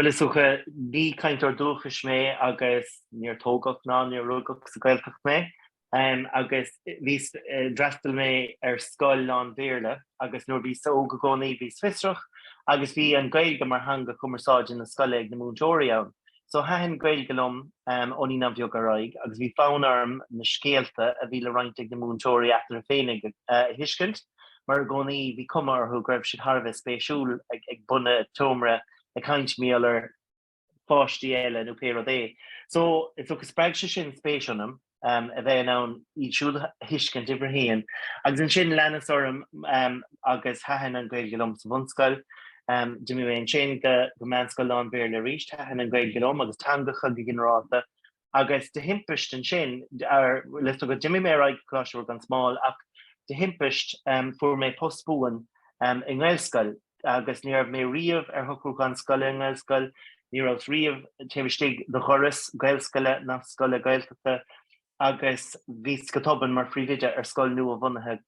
Is dócha, ní cainteoir dúchais mé agus níor tógadh ná níor rugadh sa Ghaeltacht mé agus bhíos, d'fhreastail mé ar scoil lán-Bhéarla agus nuair a bhíos óg i gcónaí bhíos fiosrach agus bhí an Ghaeilge mar theanga chumarsáide na scoile ag na múinteoirí ann. So thaitin Gaeilge liom ó naíonáin bheaga ar aghaidh agus bhí fonn orm na scéalta a bhí le roinnt ag na múinteoirí eatarthu féinig a thuiscint mar i gcónaí bhí cuma orthu go raibh siad thar a bheith spéisiúil ag bun an tseomra ag caint mar gheall ar pháistí eile nó pé rud é. So, is dócha spreag sé sin spéis ionam a bheith in ann iad siúd a thuiscint uimhir a haon agus ansin leanas orm agus thaitin an Ghaeilge liom sa bhunscoil. D'imigh mé ansin go meánscoil lán-Bhéarla arís, thaitin an Ghaeilge liom agus teangacha go ginearálta agus de thimpist ansin, is dócha, d'imigh mé ar aghaidh go Coláiste Mhuire Gan Smál ach de thimpist fuair mé post buan i nGaelscoil agus ní raibh mé riamh ar shocrúchán scoile i nGaelscoil, ní rabhas riamh taobh istigh de dhoras Gaelscoile ná scoile Gaeltachta agus bhíos go tobann mar phríomhoide ar scoil nua-bhunaithe.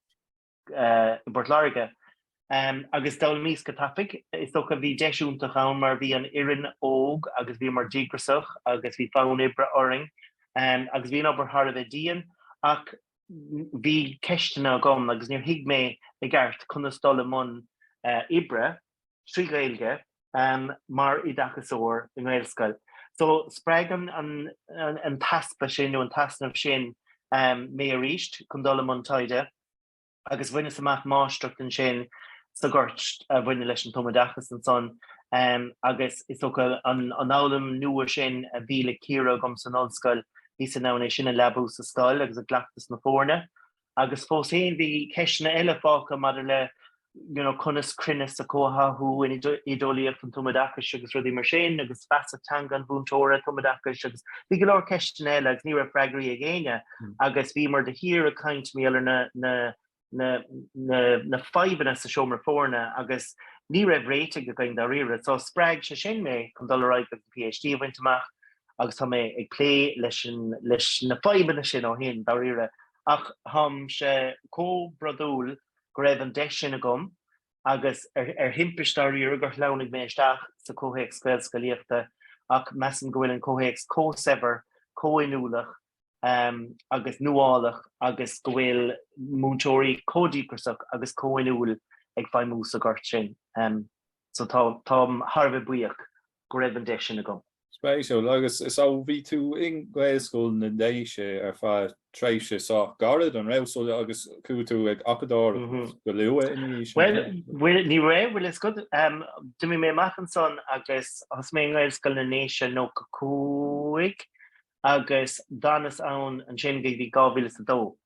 i bPort Láirge. Agus d'fhoghlaimíos go tapaidh. Is dócha bhí deis iontach ann mar bhí an fhoireann óg agus bhíomar díograsach agus bhí fonn oibre orainn. Agus bhí an obair thar a bheith dian ach bhí ceisteanna agam agus níor thuig mé i gceart conas dul i mbun oibre. trí Ghaeilge mar oideachasóir i nGaelscoil. So spreag an t-easpa sin nó an t-easnamh sin mé arís chun dul i mbun taighde agus bhaineas amach máistreacht ansin sa ghort a bhaineann leis an tumoideachas ansan agus is dócha an fhoghlaim nua sin a bhí le cíoradh agam san ollscoil, bhíos in ann é sin a leabú sa scoil agus i gcleachtas na foirne. Agus fós féin bhí ceisteanna eile fágtha maidir le, you know, conas cruinneas a chomhtháthú in oideolaíocht an tumoideachais agus rudaí mar sin agus feasacht teanga an mhúinteora tumoideachais agus bhí go leor ceisteanna eile agus ní raibh freagraí ag éinne agus bhíomar de shíor ag caint mar gheall ar na fadhbanna sa seomra foirne agus ní raibh réitigh againn dáiríre. So spreag sé sin mé chun dul ar aghaidh agus an PhD a bhaint amach agus tá mé ag plé leis na fadhbanna sin ó shin, dáiríre, ach táimse chomh brodúil go raibh an deis sin agam agus, ar thimpist dáiríre, gur shleamhnaigh mé isteach sa chomhthéacs Gaelscolaíochta, ach measaim go bhfuil an comhthéacs chomh saibhir, chomh hinniúlach agus nuálach agus go bhfuil múinteoirí chomh díograsach agus chomh hinniúil ag feidhmiú sa ghort sin. So tá, táim thar a bheith buíoch go raibh an deis sin agam. Spéisiúil. Agus so bhí tú i nGaelscoil na nDéise ar feadh tréimhse sách gairid, an raibh? So agus chuaigh tú ag acadóireacht go luath ina dhiaidh sin? Bhuel, bhuel, ní raibh, bhfuil 'fhios agat, em, d'imigh mé amach ansan agus thosaigh mé i nGaelscoil na nDéise nócha cúig agus d'fhanas ann ansin go dtí dhá mhíle is a dó.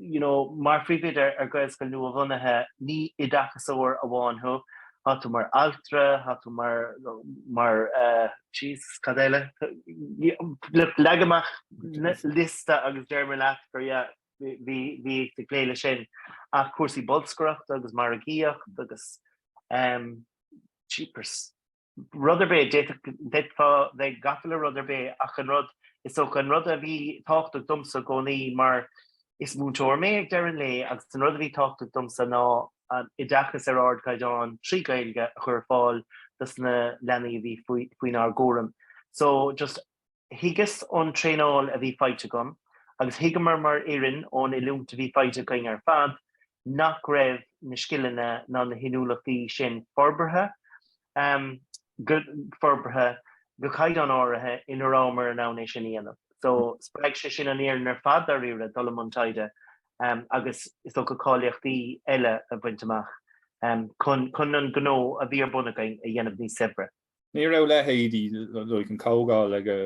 you know, mar phríomhoide ar Ghaelscoil nua-bhunaithe, ní oideachasóir amháin thú, thá tú mar altra, thá tú mar, mar, eh, Jesus, cad eile? Leag amach liosta agus déarfaidh mé leat gur, yeah, bhí, bhí ag plé leis sin. Ach cúrsaí bolscaireachta agus margaíocht agus, eh, jeepers. rud ar bith, d'fhéadfá bheith gafa le rud ar bith ach an rud, is dócha, an rud a bhí tábhachtach domsa i gcónaí mar is múinteoir mé ag deireadh an lae agus an rud a bhí tábhachtach domsa ná oideachas ar ardchaighdeán trí Ghaeilge a chur ar fáil dos na leanaí a bhí faoinár gcúram. So just. Thuigeas ón traenáil a bhí faighte agam, agus thuigeamar mar fhoireann ón oiliúint a bhí faighte againn ar fad, nach raibh na scileanna ná na hinniúlachtaí sin forbartha forbartha go caighdeán áirithe ina rabhamar in ann é sin a dhéanamh. So, spreag sé sin an fhoireann ar fad, dáiríre, dul i mbun taighde agus, is dócha, cáilíochtaí eile a bhaint amach chun an gnó a bhí ar bun againn a dhéanamh níos saibhre. Ní raibh leithéidí like, an chomhdháil ag ar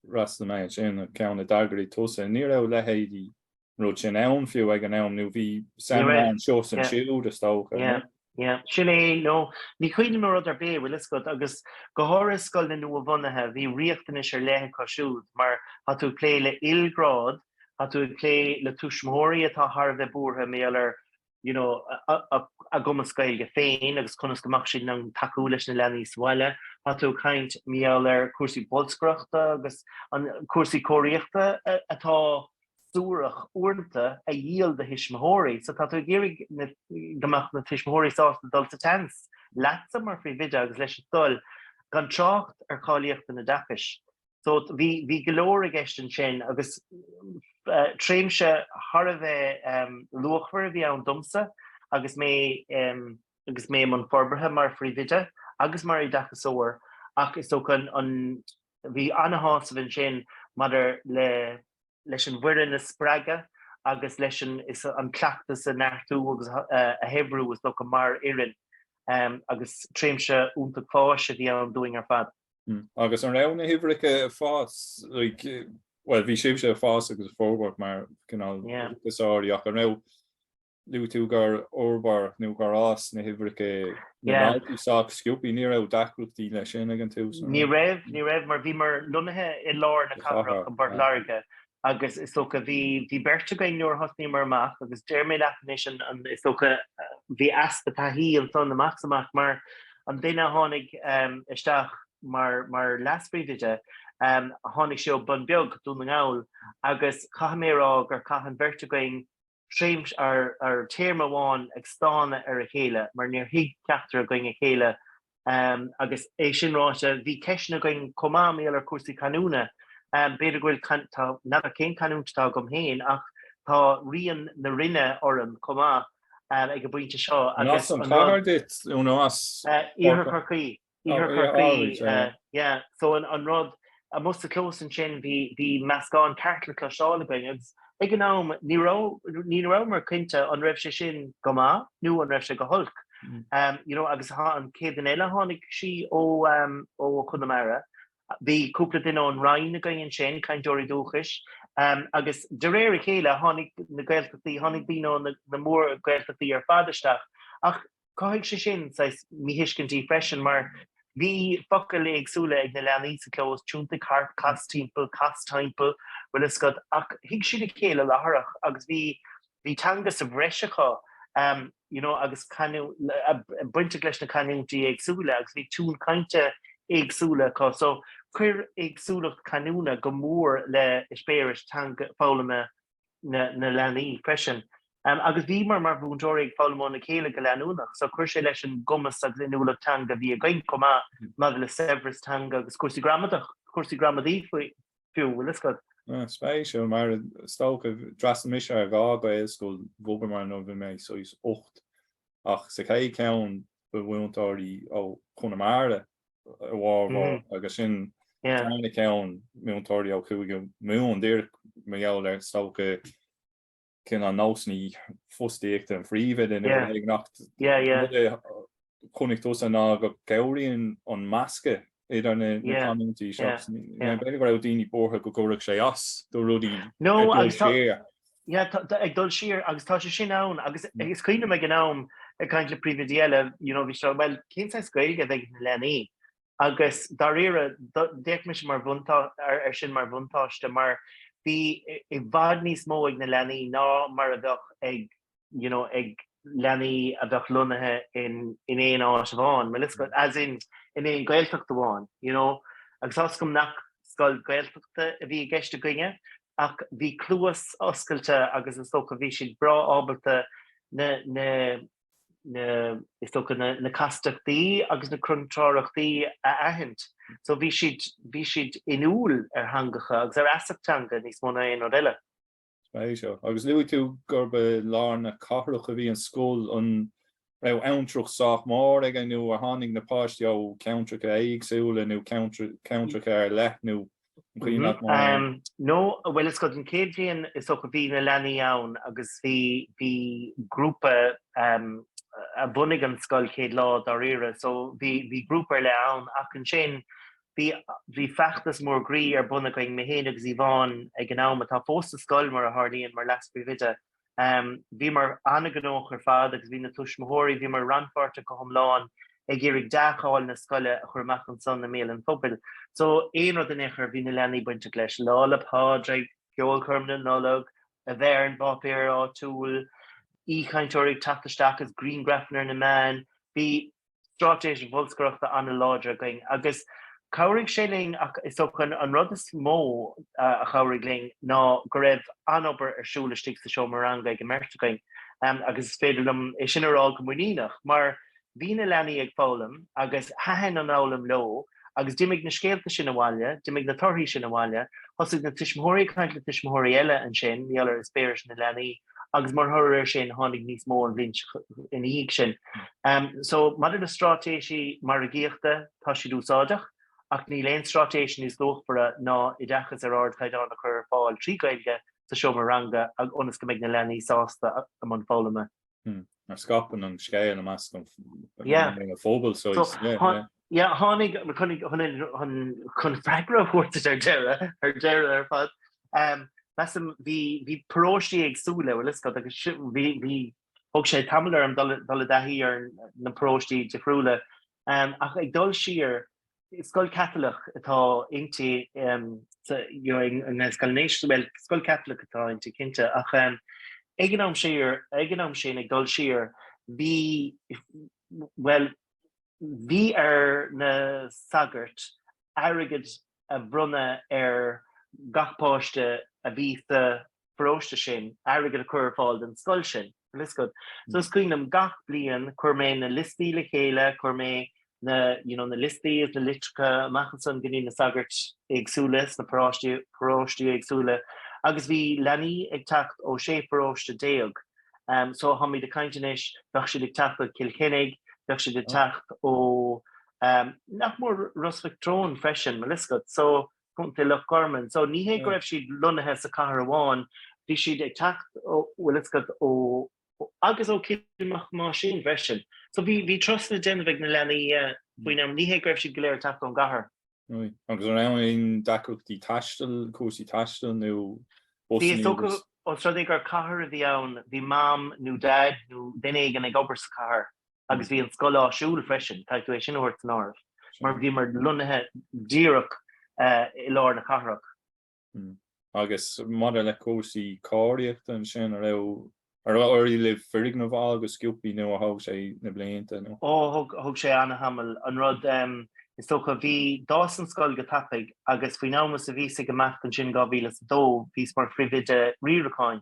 fhreastail mé ansin, an ceann a d'eagraigh tusa, ní raibh leithéidí an rud sin ann fiú ag an am, nó bhí siad anseo is ansiúd is dócha. Yeah, sin é, no, ní chuimhním ar rud ar bith, bhfuil 'fhios agat, agus go háirithe i scoileanna nua-bhunaithe, bhí riachtanais ar leith acu siúd, mar tá tú ag plé le ilghrád, tá tú ag plé le tuismitheoirí atá thar a bheith buartha mar gheall ar you know, a gcumas Gaeilge féin agus conas go mbeadh siad in ann tacú leis na leanaí sa bhaile. Tá tú ag caint mar gheall ar chúrsaí bolscaireachta agus an cúrsaí cóiríochta atá suarach uaireanta a dhíol do thuismitheoirí. So tá tú ag iarraidh go mbeadh na tuismitheoirí sásta dul sa tseans leatsa mar phríomhoide agus leis an scoil gan trácht ar cháilíocht an oideachais. So bhí go leor i gceist ansin agus tréimhse thar a bheith luachmhar a bhí ann domsa agus mé agus mé i mbun forbartha mar phríomhoide agus mar oideachasóir ach is dócha an bhí an-shásamh ansin maidir le leis an bhfoireann a spreagadh agus leis an cleachtas a neartú agus a shaibhriú, is dócha, mar fhoireann, agus tréimhse iontach fáis a bhí ann dúinn ar fad. Agus an raibh na huimhreacha ag fás, like, bhuel, bhí sibhse ag fás agus ag forbairt mar cineál oideachasóirí, ach, an raibh Luaigh tú gur fhorbair nó gur fhás na huimhreacha na ndaltaí sách sciobtha, ní raibh deacrachtaí leis sin ag an tús? Ní raibh, ní raibh mar bhí muid lonnaithe i lár na cathrach i bPort Láirge agus is dócha bhí beirt againn nuair a thosnaíomar amach agus déarfaidh mé leat anois is dócha bhí easpa taithí ansan amach is amach mar an duine a tháinig isteach mar leas-phríomhoide, tháinig sé ón mBun Beag, Dún na nGall, agus caithfidh mé a rá gur chaith an bheirt againn, Tréimhse nó téarma amháin ag stánadh ar a chéile mar níor thuig ceachtar againn a chéile agus é sin ráite bhí ceisteanna againn chomh maith mar gheall ar chúrsaí canúna. B'fhéidir go bhfuil, n'fheadar cén canúint atá agam féin ach tá rian na Rinne orm chomh maith ag an bpointe seo. An as an gClár duit nó as Iarthar Chorcaí? Iarthar Chorcaí. So an rud amuigh sa chlós ansin bhí meascán ceart le cloisteáil againn agus ag an am ní rabhamar cinnte an raibh sé sin go maith nó an raibh sé go holc, you know, agus an chéad duine eile a tháinig, sí ó Chonamara, bhí cúpla duine ón Rinn againn ansin, cainteoirí dúchais, agus de réir a chéile tháinig na Gaeltachtaí, tháinig daoine ó na mór-Ghaeltachtaí ar fad isteach ach Chothaigh sé sin saghas míthuiscintí freisin, mar bhí focail éagsúla ag na leanaí sa chlós, tiontaigh thart, cas timpeall, cas timpeall, bhfuil fhios agat, ach thuig siad a chéile láithreach agus bhí bhí teanga sa bhreis acu you know agus bainteach leis na canúintí éagsúla agus bhí tiúin chainte éagsúla acu so chuir éagsúlacht canúna go mór le eispéireas teanga foghlama na leanaí freisin. Agus bhíomar mar mhúinteoirí ag foghlaim óna chéile go leanúnach, so chuir sé leis an gcumas agus inniúlacht teanga a bhí againn chomh maith maidir le saibhreas teanga agus cúrsaí gramadach, cúrsaí gramadaí fiú, bhfuil 'fhios agat. Spéisiúil, mar is dócha, d'fhreastail mise ar dhá Ghaelscoil bhogamar nuair a bhí mé saghas ocht, ach sa chéad cheann ba mhúinteoirí ó Chonamara a bhformhór agus sa dara ceann múinteoirí ó Chúige Mumhan díreach mar gheall ar is dócha cinntí nó nósanna fostaíochta an phríomhoide ach chonaic tusa ná go gcabhraíonn an meascán idir na canúintí seo, b'fhéidir go raibh daoine buartha go gcuirfeadh sé as do rudaí. Yeah, tá, tá, ag dul siar, agus tá sé sin ann, agus is cuimhin liom ag an am, ag caint le príomhoidí eile, you know, bhí sé, well, cén saghas Gaeilge a bheidh ag na leanaí? Agus dáiríre, do, d'fhéach mise mar bhuntá, ar, ar sin mar bhuntáiste, mar bhí i, i bhfad níos mó ag na leanaí ná mar a bheadh ag, you know, ag leanaí a bheadh lonnaithe in, in aon áit amháin, mar, as in, in aon Gaeltacht amháin, you know, agus tá, is eol dom nach scoil Gaeltachta a bhí i gceist againne, ach bhí cluas oscailte agus is dócha bhí siad breá ábalta na na na is dócha na na castachtaí agus na contrárthachtaí a aithint. So bhí siad bhí siad inniúil ar theangacha agus ar fheasacht teanga níos mó ná aon rud eile. Spéisiúil. Agus luaigh tú gurb i lár na cathrach a bhí an scoil, an raibh abhantrach sách mór ag an nó ar tháinig na páistí ó cheantracha éagsúla nó ceantracha ar leith nó cén chaoi nach mór. No bhuel is go den chéad bhliain is dócha a bhí na leanaí ann agus bhí bhí grúpa a bhunaigh an scoil chéad lá dáiríre so bhí bhí grúpa ar leith ann ach ansin bhí bhí feachtas mór groí ar bun againn mé féin agus Yvonne ag an am atá fós sa scoil mar a tharlaíonn mar leas-phríomhoide Bhíomar an-ghnóthach ar fad agus bhí na tuismitheoirí, bhíomar rannpháirteach go hiomlán ag iarraidh dea-cháil na scoile a chur amach ansan i mbéal an phobail. So, aon rud in aon chor, bhí na leanaí bainteach leis, Lá 'le Pádraig, Ceolchoirm na Nollag, a bheith ar an bpáipéar áitiúil, aoichainteoirí ag teacht isteach agus griangrafanna ar na meáin. Bhí straitéis bholscaireachta an-láidir againn agus chabhraigh sé linn ach is dócha an rud is mó a chabhraigh linn ná go raibh an-obair ar siúl istigh sa seomra ranga ag an mbeirt againn agus is féidir liom é sin a rá go muiníneach mar bhí na leanaí ag foghlaim agus thaitin an fhoghlaim leo agus d'imigh na scéalta sin abhaile, d'imigh na torthaí sin abhaile, thosaigh na tuismitheoirí ag caint le tuismitheoirí eile ansin, mar gheall ar eispéiris na leanaí, agus mar thoradh ar sin, tháinig níos mó an bhliain ina dhiaidh sin. Um, so, maidir le straitéisí margaíochta, tá siad úsáideach, ach níl aon straitéis níos luachmhara ná oideachas ar ardchaighdeán a chur ar fáil trí Gaeilge sa seomra ranga ionas go mbeidh na leanaí sásta i mbun foghlama. Mar scaipeann an scéal i measc an phobail so yeah. Yeah, tháinig chun freagra a thabhairt ar deireadh, ar deireadh ar fad, measaim bhí paróistí éagsúla, an bhfuil a fhios agat, agus bhí, thug sé tamall orm dul i dtaithí ar na paróistí difriúla ach ag dul siar Scoil Chaitliceach atá inti i nGaelscoil na nDéise, bhuel, scoil Chaitliceach atá inti, cinnte, ach ag an am siar, ag an am sin, ag dul siar, bhí, bhuel, bhí ar na sagairt airgead a bhronnadh ar gach páiste a bhí sa pharóiste sin airgead a chur ar fáil don scoil sin. So is cuimhin liom gach bliain chuir mé na liostaí le chéile, chuir mé na, you know, na liostaí is na litreacha amach ansan go dtí na sagairt éagsúla sna paráistí, paróistí éagsúla agus bhí leanaí ag teacht ó 16 paróiste. So tháimid ag caint anois, bheadh siad ag teacht ó Chill Chainnigh, bheadh siad ag teacht ó, nach mór, Ros Mhic Thriúin freisin, an bhfuil a fhios agat. So Contae Loch Garman. So ní hé go raibh siad lonnaithe sa cathair amháin, bhí siad ag teacht ó bhfuil fhios agat, ó agus ó Coill Mhic Thomáisín freisin. So bhí bhí turas le déanamh ag na leanaí faoin am, ní hé go raibh siad go léir ag teacht ón gcathair. Agus an raibh aon deacrachtaí taistil, cúrsaí taistil nó bus? Bhí, is dócha, agus os rud é gur cathair a bhí ann, bhí mam nó daid nó duine éigin ag obair sa cathair. agus bhí an scoil áisiúil freisin, caithfidh tú é sin a thabhairt san áireamh, mar bhíomar lonnaithe díreach i lár na cathrach. Agus maidir le cúrsaí cóiríochta ansin, an raibh, an raibh, ar éirigh libh foirgneamh a fháil go sciobtha nó ar thóg sé na blianta, nó? Ó, thóg sé an-tamall. An rud, is dócha, bhí, d'fhás an scoil go tapaidh, agus faoin am is a bhíos ag imeacht ansin, 2002, bhíos mar phríomhoide riaracháin,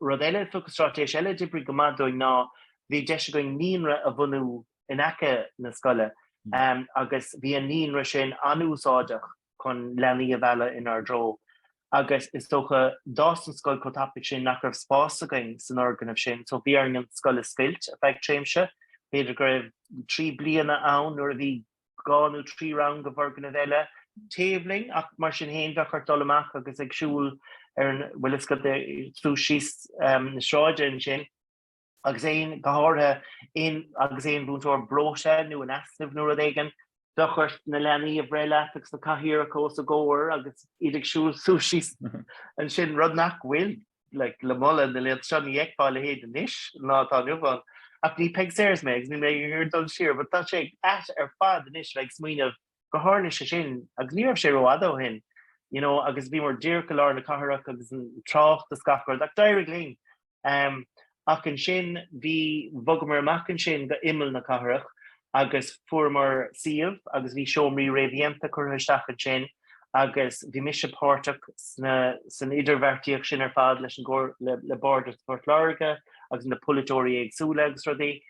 Rud eile, is dócha, straitéis eile a d'oibrigh go maith dúinn ná bhí deis againn naíonra a bhunú in aice na scoile agus bhí an naíonra sin an-úsáideach chun leanaí a mhealladh inár dtreo agus is dócha d'fhás an scoil chomh tapaidh sin nach raibh spás againn san fhoirgneamh sin so bhí orainn an scoil a scoilt ar feadh tréimse. B'fhéidir go raibh trí bliana ann nuair a bhí dhá nó trí rang i bhfoirgneamh eile taobh linn, ach mar sin féin bheadh ort dul amach agus ag siúl ar an, bhfuil fhios agat, suas síos na sráide ansin, agus aon, go háirithe, aon, agus aon mhúinteoir breoite nó in easnamh nó rud éigin, bheadh ort na leanaí a bhreith leat agus na cathaoireacha os a gcomhair agus iad ag siúl suas síos ansin, rud nach bhfuil. like, le moladh na laethanta seo, ní fheicfeá a leithéid anois sa lá atá inniu ann. Ach ní Peig Sayers mé agus níl mé ag dul siar, but tá sé ait ar fad anois, like, smaoineamh gur tharla sé sin agus ní raibh sé rófhada ó shin, you know, agus bhíomar díreach i lár na cathrach agus an trácht is gach rud, ach d'éirigh linn. Um, Ach ansin bhí, bhogamar amach ansin go imeall na cathrach agus fuaireamar suíomh agus bhí seomraí réamhdhéanta curtha isteach ansin agus bhí mise páirteach sna, san idirbheartaíocht sin ar fad leis an gcomhairle, le Bardas Phort Láirge agus na polaiteoirí éagsúla agus rudaí.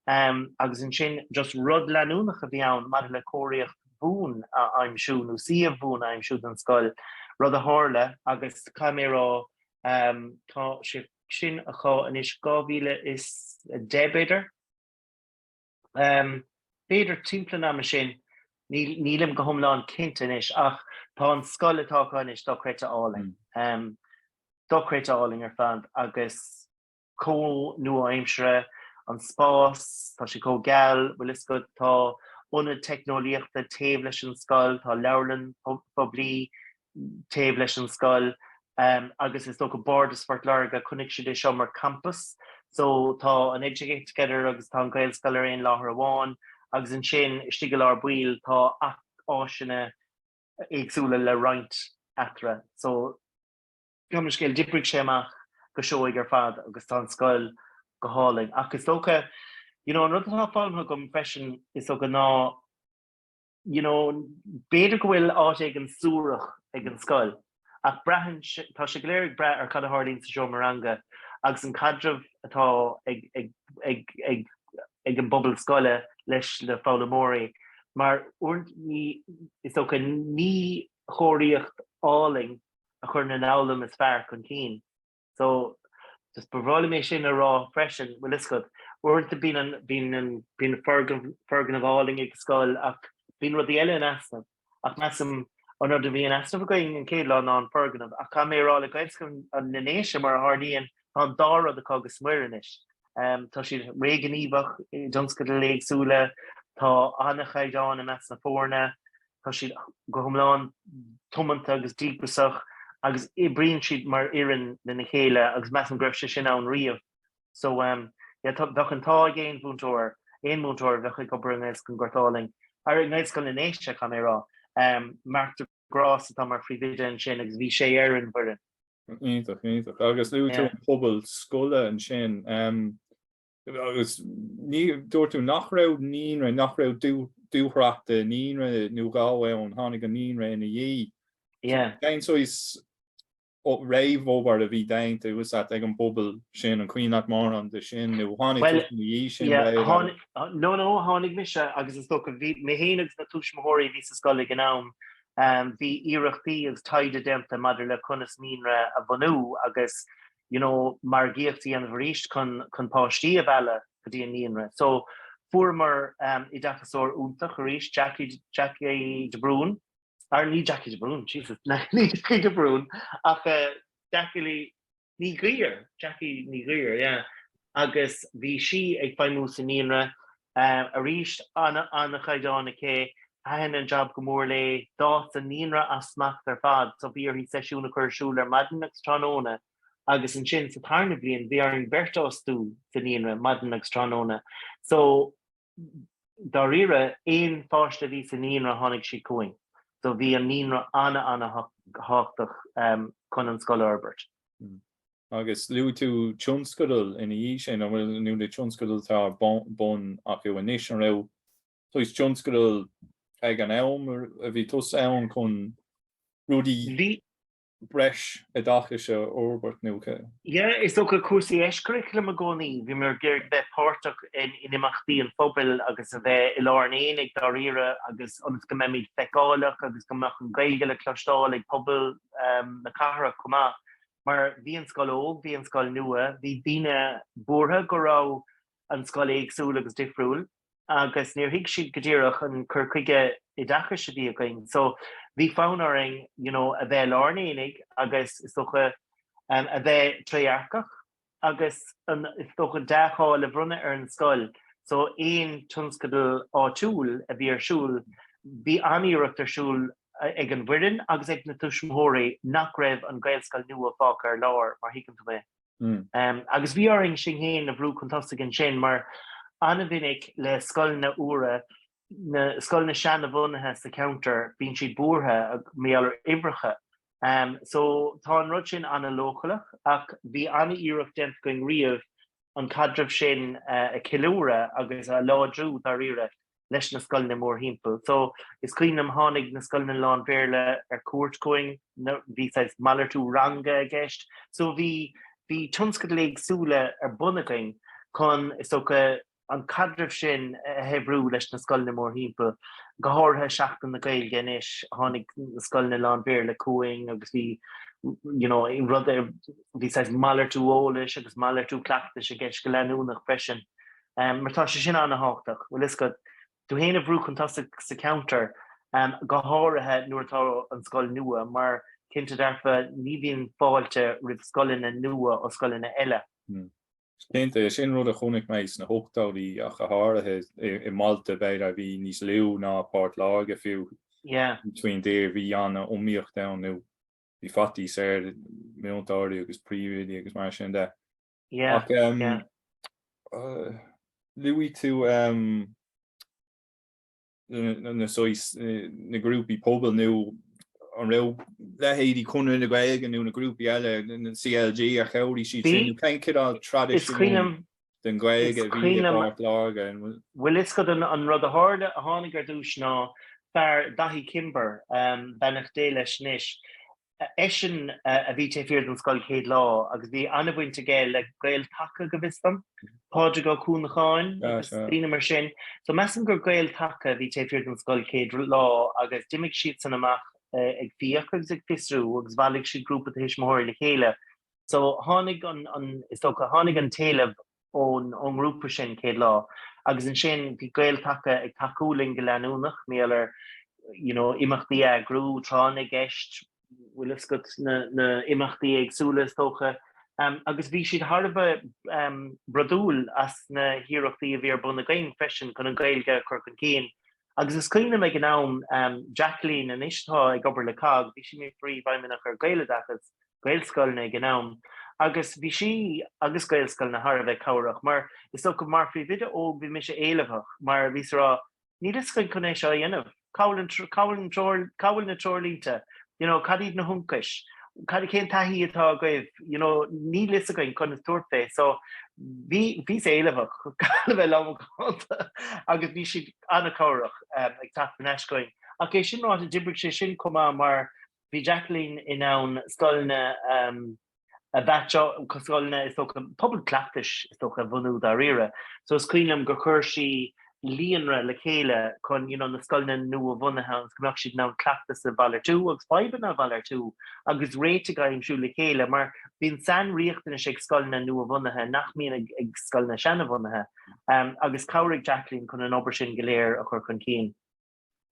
Ehm, agus ansin just rud leanúnach a bhí ann maidir le cóiríocht bhuan a aimsiú nó suíomh buan a aimsiú don scoil, rud a tharla agus caithfidh mé a rá, ehm, tá sé, sin acu anois, 2010 b'fhéidir, b'fhéidir timpeall an ama sin, nílim go hiomlán cinnte anois, ach tá an scoil atá acu anois dochreidte álainn, dochreidte álainn ar fad agus chomh nua-aimseartha an spás, tá sé chomh geal, bhfuil fhios agat, tá ionad teicneolaíochta taobh leis an scoil, tá leabharlann phoiblí, taobh leis an scoil agus is dócha Bardas Phort Láirge, chonaic siad é seo mar champas. So tá an Educate Together agus tá an Gaelscoil ar aon láthair amháin agus ansin istigh i lár baill tá áiseanna éagsúla le roinnt eatarthu. So ar aon scéal d'oibrigh sé amach go seoigh ar fad agus tá an scoil go hálainn. Ach is dócha, you know, an rud atá foghlamtha agam freisin is dócha ná, you know, b'fhéidir go bhfuil áit éigin suarach ag an scoil, ach braitheann tá sé go léir ag brath ar cad a tharlaíonn sa seomra ranga agus an caidreamh atá ag, ag, ag, ag, ag an bpobal scoile leis le foghlaimeoirí. Mar uaireanta is dócha, ní cóiríocht álainn a chuireann an fhoghlaim is fearr chun cinn. So just ba bhreá liom é sin a rá freisin, bhfuil fhios agat, uaireanta bíonn an, bíonn an, bíonn na foirgnimh, foirgnimh álainn ag scoil ach bíonn rudaí eile in easnamh. Ach measaim, an rud a bhí in easnamh againn an chéad lá ná an foirgneamh. Ach caithfidh mé a rá le Gaelscoil na nDéise, mar a tharlaíonn, tá an dá rud acu go smior anois. Tá siad ríghníomhach i dtionscadail éagsúla, tá an-chaighdeán i measc na foirne, Tá siad go hiomlán tiomanta agus díograsach agus oibríonn siad mar fhoireann lena chéile agus measaim go raibh sé sin ann riamh. So yeah bheadh an t-ádh ag aon mhúinteoir, aon mhúinteoir a bheadh ag obair i nGaelscoil an Ghort Álainn, ara i nGaelscoil na nDéise caithfidh mé a rá, Marc de Grás atá mar phríomhoide ansin agus bhí sé ar an bhfoireann. Iontach, iontach. Agus luaigh tú an pobal scoile ansin. Agus dúirt tú nach raibh naíonra, nach raibh dúthracht i naíonra nó dhá ann, tháinig an naíonra ina dhiaidh. Yeah. Cén saghas réamhobair a bhí déanta uasat ag an bpobal sin? An cuimhin leat mórán de sin nó tháinig tú ina dhiaidh sin? No, no, tháinig mise agus is dócha bhí mé féin agus na tuismitheoirí a bhí sa scoil ag an am, bhí iarrachtaí agus taighde déanta maidir le conas naíonra a bhunú agus you know, margaíocht a dhéanamh arís chun chun páistí a mhealladh go dtí an naíonra. So fuaireamar oideachasóir iontach arís, Jackie Jackie de Brún, or ní Jackie de Brún, Jesus, na ní Jackie de Brún, ach eh Jackie Lee Ní Ghriar, Jackie Ní Ghriar, yeah. Agus bhí sí ag feidhmiú sa naíonra Arís, an-chaighdeán aici. Thaitin an jab go mór léi. D'fhás an naíonra as smacht ar fad so bhí uirthi seisiúin a chur ar siúl ar maidin agus tráthnóna. Agus ansin sa tarna bhliain bhí orainn beirt a fhostú sa naíonra, maidin agus tráthnóna. So, dáiríre, aon pháiste a bhí sa naíonra tháinig siad chugainn. So bhí an naíonra an-an-thábhachtach chun an scoil a fhorbairt. Agus luaigh tú tionscadal ina dhiaidh sin, an bhfuil, nó na tionscadail atá ar bun acu anois, an raibh saghas tionscadal ag an am a bhí tusa ann chun rudaí breis oideachais a fhorbairt nó cé? Yeah, is dócha cúrsaí eiscurricular liom i gcónaí, bhí mé ag iarraidh bheith páirteach in imeachtaí an phobail agus a bheith i lár an aonaigh dáiríre agus ionas go mbeimis feiceálach agus go mbeadh an Ghaeilge le cloisteáil ag pobal na cathrach chomh maith. mar bhí an scoil óg, bhí an scoil nua, bhí daoine buartha go raibh an scoil éagsúil agus difriúil agus níor thuig siad go díreach an cur chuige oideachais a bhí againn. So bhí fonn orainn you know a bheith i lár an aonaigh agus is dócha a bheith trédhearcach. agus an, is dócha, dea-cháil le bronnadh ar an scoil so, aon tionscadal áitiúil a bhí ar siúl, bhí an-iarracht ar siúl ag an bhfoireann agus ag na tuismitheoirí nach raibh an Ghaelscoil nua fágtha ar lár, má thuigeann tú mé. Agus bhí orainn sinn fhéin a bhrú chun tosaigh ansin, mar an-mhinic le scoileanna úra, na scoileanna seanabhunaithe sa cheantar, bíonn siad buartha mar gheall ar uimhreacha So tá an rud sin an-logalach ach bhí an-iarracht déanta againn riamh an caidreamh sin a cheiliúradh agus a láidriú dáiríre leis na scoileanna mórthimpeall. So is cuimhin liom tháinig na scoileanna lán-Bhéarla ar cuairt chugainn, bhí saghas malartú ranga i gceist. So bhí tionscadail éagsúla ar bun againn chun, is dócha, an caidreamh sin a shaibhriú leis na scoileanna mórthimpeall, go háirithe Seachtain na Gaeilge anois, tháinig na scoileanna lán-Bhéarla chugainn agus bhí you know rud bhí saghas malartú eolais agus malartú cleachtais i gceist go leanúnach freisin mar tá sé sin an-tábhachtach. Bhuel is dócha tú fhéin a bhrú chun tosaigh sa cheantar, go háirithe nuair atá an scoil nua mar cinnte dearfa ní bhíonn fáilte roimh scoileanna nua ó scoileanna eile. Cinnte, sin rud a chonaic mé sna hochtóidí ach go háirithe, i mbailte b'fhéidir a bhí níos lú ná Port Láirge fiú, faoin dtír, bhí an-iomaíocht ann nó bhí faitíos ar mhúinteoirí agus príomhoidí agus mar sin de. Ach luaigh tú na saghas, na grúpaí pobail nó an raibh leithéidí Conradh na Gaeilge nó na grúpaí eile, na CLG, ar chabhraigh siad sin nó cén cineál traidisiún den Ghaeilge a bhí i bPort Láirge? Bhuel is dócha an rud a tharla, a tháinig ar dtúis ná fear Daithí Kimber, beannacht Dé leis anois, Eisean a bhí taobh thiar den scoil céad lá agus bhí an-bhaint aige le Gael Taca go bhfios dom, Pádraig Ó Cuanacháin agus daoine mar sin. So measaim gur Gael Taca a bhí taobh thiar den scoil céad lá agus d'imigh siadsan amach ag fiach agus ag fiosrú agus bhailigh siad grúpa de thuismitheoirí le chéile. So tháinig an, is dócha, tháinig an t-éileamh ón ngrúpa sin, céad lá, agus ansin bhí Gael-Taca ag tacú linn go leanúnach, mar gheall ar you know imeachtaí a eagrú, tráth na gceist, bhfuil 'fhios agat na na imeachtaí éagsúla is dócha, agus bhí siad thar a bheith brodúil as na hiarrachtaí a bhí ar bun againn freisin chun an Ghaeilge a chur chun cinn, agus is cuimhin liom ag an am, Jacqueline, anois atá ag obair le COGG, bhí sí mar Phríomhfheidhmeannach ar Gaeloideachas, Gaelscoileanna ag an am, agus bhí sí agus Gaelscoileanna thar a bheith cabhrach, mar is dócha mar phríomhoide óg bhí mise éileamhach, mar bhíos ag rá, níl fhios againn conas é seo a dhéanamh, cá bhfuil an, cá bhfuil an treoir, cá bhfuil na treoirlínte, you know, cad iad na hionchais, cad, cén taithí atá agaibh, you know, níl fhios againn conas tabhairt fé, so bhí, bhíos éileamhach, chun a bheith lánmhacánta, agus bhí siad an-cabhrach ag teacht thar n-ais chugainn, ach é sin ráite d'oibrigh sé sin chomh maith mar Bhí Jacqueline in ann scoileanna a mheaitseáil, scoileanna, is dócha, pobail chleachtais, is dócha, a bhunú dáiríre. So is cuimhin liom gur chuir sí líonra le chéile chun you know na scoileanna nua-bhunaithe agus go mbeadh siad in ann cleachtais a mhalartú agus fadhbanna a mhalartú agus réitigh a aimsiú le chéile mar bíonn sainriachtanais ag scoileanna nua-bhunaithe nach mbíonn ag, ag scoileanna seanabhunaithe um, agus chabhraigh Jacqueline chun an obair sin go léir a chur chun cinn.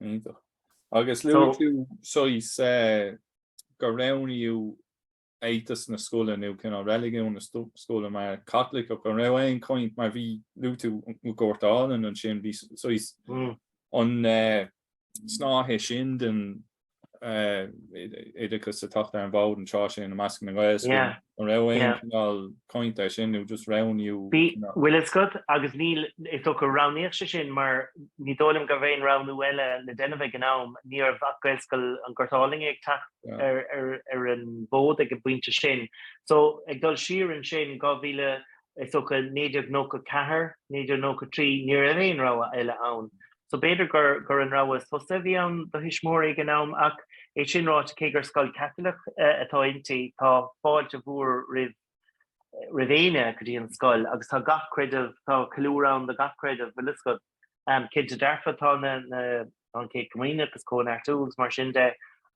Iontach. Agus luaigh tú saghas go roghnaíodh éiteas na scoile nó cineál reiligiún na scoile mar Chaitliceach. An raibh aon chaint, mar bhí, luaigh tú an Gort Álainn ansin, bhí saghas an snáithe sin den oideachas ag teacht ar an bhfód an tráth sin i measc na nGaelscoileanna. An raibh aon chineál cainte ar sin nó just roghnaíodh cineál? Bhfuil 'fhios agat, agus níl, is dócha go roghnaíodh sé sin mar ní dóigh liom go raibh aon roghnú eile le déanamh ag an am. Ní raibh ach Gaelscoil an Ghoirt Álainn ag teacht ar an bhfód ag an bpointe sin. So, ag dul siar ansin, 2000, is dócha 1994, 1993, ní raibh aon rogha eile ann. so b'fhéidir gur an rogha is fusa a bhí ann do thuismitheoirí ag an am. Ach é sin ráite, cé gur scoil Chaitliceach atá inti, tá fáilte mhór roimh éinne go dtí an scoil agus tá gach creideamh, tá ceiliúradh ann do gach creideamh, bhfuil 'fhios agat. Cinnte dearfa tá na, tá an Chéad Chomaoineach is Cóineartú agus mar sin de.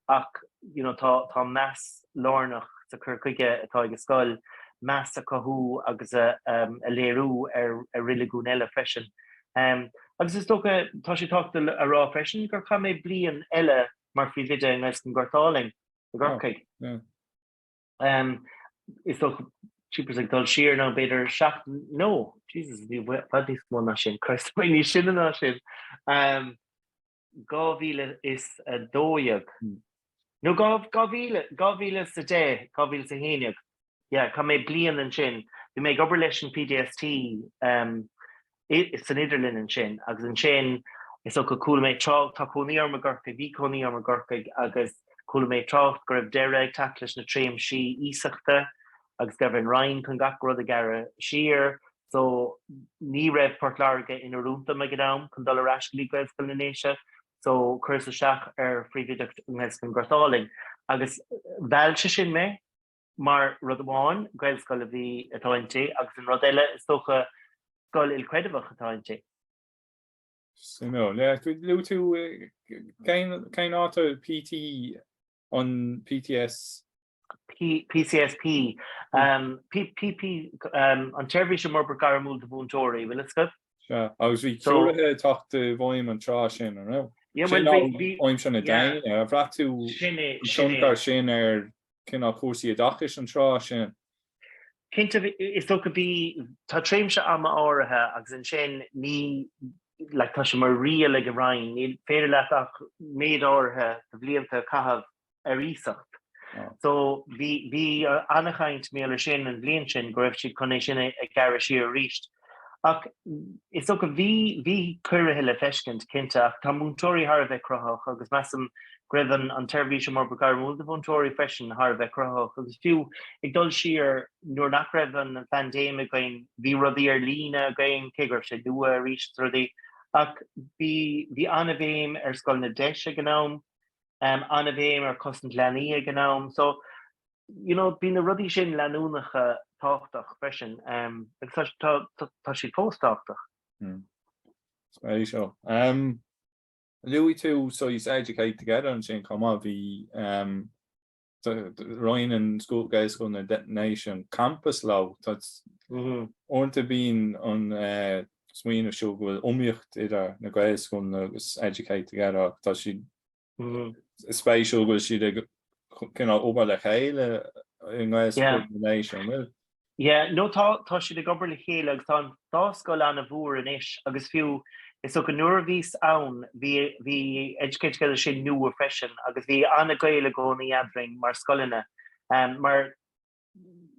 Ach you know tá tá meas lárnach sa cur chuige atá ag an scoil meas a cothú agus a a léiriú ar ar reiligiúin eile freisin. Em agus is dócha tá sé tábhachta a rá freisin gur chaith mé bliain eile mar phríomhoide i nGaelscoil an Ghort Álainn i gCorcaigh. Em is dócha jeepers ag dul siar nó b'fhéidir seacht nó Jesus bhí i bhfad níos mó ná sin Christ bhí níos sine ná sin. Em. 2012 nó 2010, 2011, yeah, chaith mé bliain ansin, bhí mé ag obair leis an PDST san idirlinn ansin agus ansin is dócha chuala mé trácht, tá cónaí orm i gCorcaigh, bhí cónaí orm i gCorcaigh agus chuala mé trácht go raibh deireadh ag teacht leis na tréimsí iasachta agus go raibh an Roinn chun gach rud a ghearradh siar, so ní raibh Port Láirge in oiriúint dom ag an am chun dul ar ais go dtí Gaelscoil na nDéise, so chuireas isteach ar phríomhoideacht i nGaelscoil an Ghort Álainn agus mheall sé sin mé mar, rud amháin, Gaelscoil a bhí atá inti agus an rud eile, is dócha, scoil ilchreidmheach atá inti. Suimiúil. Luaigh tú cén áit a bhí PT An PDS. PCSP, PP, an tSeirbhís um Fhorbairt Gairmiúil do Mhúinteoirí, bhfuil 'fhios agat? Sea, agus bhí ciorruithe ag teacht i bhfeidhm an tráth sin, an raibh? Aimsir na déine, ar bhraith tú an tionchar sin ar cineál cúrsaí oideachais an tráth sin? Cinnte, is dócha, bhí, tá tréimshe ama áirithe agus ansin ní, like, tá sé mar riail ag an Roinn, ní féidir leat ach méid áirithe de bhlianta a chaitheamh ar iasacht. So, bhí, bhí an-chaint, maidir leis sin an bhliain sin go raibh siad chun é sin a ghearradh siar arís Ach is dócha, bhí, bhí ciorruithe le feiscint, cinnte, ach tá múinteoirí thar a bheith cruthaitheach agus measaim go raibh an, an tSeirbhís um Fhorbairt Ghairmiúil do Mhúinteoirí freisin thar a bheith cruthaitheach agus fiú ag dul siar nuair nach raibh an, an phaindéim againn, bhí rudaí ar líne againn, cé go raibh sé nua arís rudaí ach bhí, bhí an-bhéim ar scoileanna DEIS ag an am, um an-bhéim ar Chosaint Leanaí ag an am. So. You know, bhí na rudaí sin leanúnach agus tábhachtach freisin, agus tá, tá, tá siad fós tábhachtach. Hmm. Spéisiúil. Um, luaigh tú ansin Educate Together ansin chomh maith bhí um, roinneann scoil Gaelscoil na nDéise an campas leo tá mm-hmm. uaireanta bíonn an eh, smaoineamh seo go bhfuil iomaíocht idir na Gaelscoileanna agus Educate Together tá si Is spéisiúil go bhfuil siad ag cineál obair le chéile i nGaelscoil na nDéise, an bhfuil? Yeah, nó tá, tá siad ag obair le chéile agus tá an dá scoil ana-mhór anois agus fiú, is dócha, nuair a bhíos ann bhí, bhí Educate Together sin nua freisin agus bhí ana-ghaol i gcónaí eadrainn mar scoileanna mar,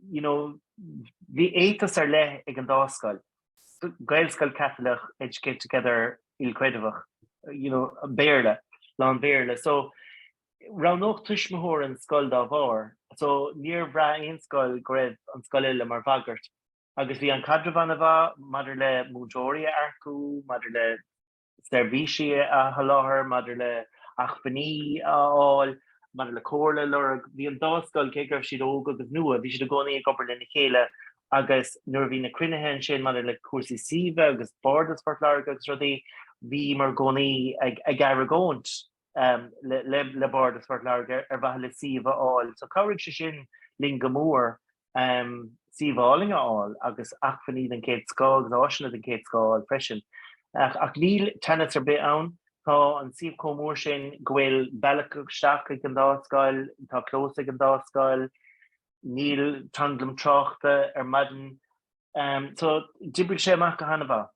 you know, bhí éiteas ar leith ag an dá scoil, Gaelscoil Caitliceach Educate Together ilchreidmheach, you know, Béarla, lán Béarla. So, roghnódh tuismitheoir an scoil dá bharr. So, níor bhraith aon scoil go raibh an scoil eile mar bhagairt. Agus bhí an caidreamh an-mhaith maidir le múinteoirí a earcú, maidir le seirbhísí a sholáthar, maidir le hacmhainní a fháil, maidir le comhairle a lorg. Bhí an dá scoil, cé go raibh siad óg agus nua, bhí siad i gcónaí ag obair lena chéile agus nuair a bhí na cruinnithe ansin maidir le cúrsaí suíomh agus Bardas Phort Láirge agus rudaí, bhíomar i gcónaí ag argóint. le Bardas Phort Láirge ar mhaithe le suíomh a fháil. So chabhraigh sé sin linn go mór suíomh álainn a fháil agus acmhainní den chéad scoth agus áiseanna den chéad scoth a fháil freisin. Ach níl teannas ar bith ann, tá an suíomh chomh mór sin go bhfuil bealach isteach ag an dá scoil, tá clós ag an dá scoil, níl tranglam tráchta ar maidin. So d'oibrigh sé amach go han-mhaith.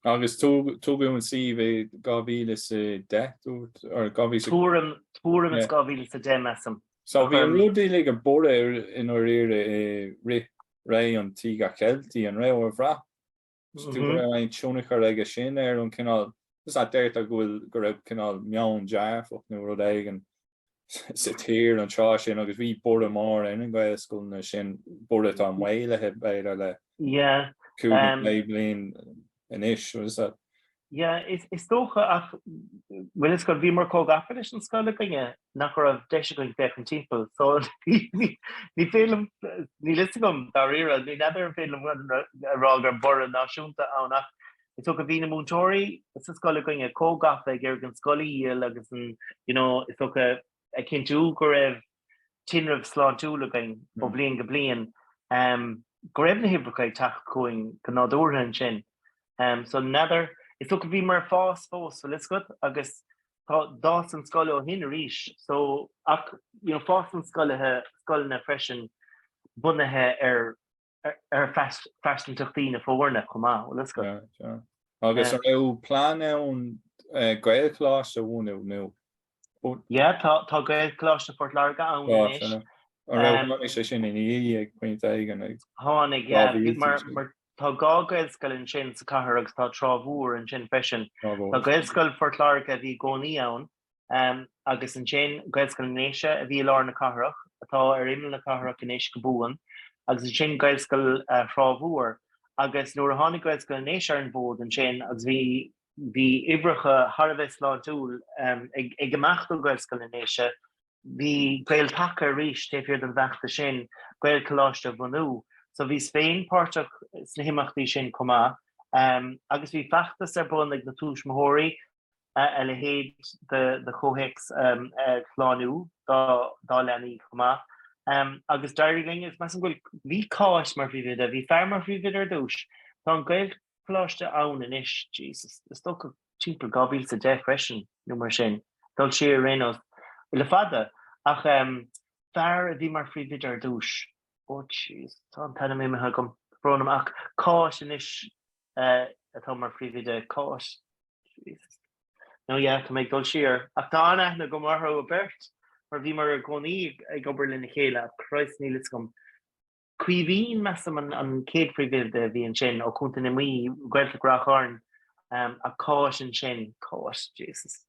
Agus tugadh an suíomh i 2010, dúirt? Or 2000? Tuairim is 2010, measaim. So bhí an rud uilig ag borradh i ndáiríre i rith ré an Tíogair Cheiltigh, an ré, ar bhraith tú go raibh aon tionchar aige sin ar an cineál, is ea, deirtear go bhfuil, go raibh cineál meon dearfach nó rud éigin sa tír an tráth sin agus bhí borradh mór ar na gaelscoileanna sin, borradh atá maolaithe b'fhéidir le cúpla bliain anois, rud is ea. Yeah, is dócha, ach bhfuil 'fhios agat, bhíomar chomh gafa leis an scoil againne nach raibh deis againn féachaint timpeall, so ní féidir liom, níl fhios agam dáiríre, ní fheadar an féidir liom a rá go raibh borradh náisiúnta ann ach Is dócha bhí na múinteoirí sa scoil againn chomh gafa ag iarraidh an scoil a dhíol agus an, you know, is dócha, ag cinntiú go raibh tinreamh sláintiúil againn ó bhliain go bliain, go raibh na huimhreacha ag teacht chugainn go nádúrtha ansin. So, n'fheadar, is dócha bhíomar ag fás fós, bhfuil 'fhios agat, agus tá, d'fhás an scoil ó shin arís, so, ach, you know, fásann scoileanna freisin bunaithe ar ar phearsantaíochtaí na foirne chomh maith, bhfuil 'fhios agat. Sure, sure. Agus an raibh plean ann Gaelcholáiste a bhunú nó? Yeah, tá, tá Gaelcholáiste Phort Láirge ann anois. Tá, tá. An raibh, tháinig sé sin ina dhiaidh ag pointe éigin ag. Tháinig, yeah, bhí, mar, mar tá dhá Gaelscoil ansin sa cathair agus tá Trá Mhór ansin freisin. Trá Mhór. Tá Gaelscoil Phort Láirge a bhí i gcónaí ann. agus ansin Gaelscoil na nDéise a bhí i lár na cathrach, atá ar imeall na cathrach anois go buan, agus ansin Gaelscoil Thrá Mhór. Agus nuair a tháinig Gaelscoil na nDéise ar an bhfód ansin agus bhí, bhí uimhreacha thar a bheith sláintiúil ag imeacht ó Ghaelscoil na nDéise, bhí Gael-Taca arís taobh thiar den bhfeachtas sin Gaelcholáiste a bhunú. So bhíos féin páirteach sna himeachtaí sin chomh maith agus bhí feachtas ar bun ag na tuismitheoirí, a leithéid de chomhthéacs a shlánú dá leanaí chomh maith. Agus d'éirigh linn, agus meas an bhfuil, bhí Cáit mar phríomhoide, bhí fear mar phríomhoide ar dtús, tá an Gaelcholáiste ann anois, Jesus, is dócha timpeall 2010 freisin nó mar sin, dul siar ar aon nós le fada ach fear a bhí mar phríomhoide ar dtús. Ó jeez, tá an t-ainm imithe agam, brón orm, ach Cáit anois atá mar phríomhoide, Cáit, Jesus, nó yeah, tá mé ag dul siar, ach tá an-aithne agam orthu beirt, mar bhíomar i gcónaí ag obair lena chéile, ach Christ, níl 'fhios agam. Caoimhín, measaim, an chéad phríomhoide a bhí ansin, ó Chontae na Mí, Gaeltacht Ráth Chairn, ach Cáit ansin, Cáit, Jesus.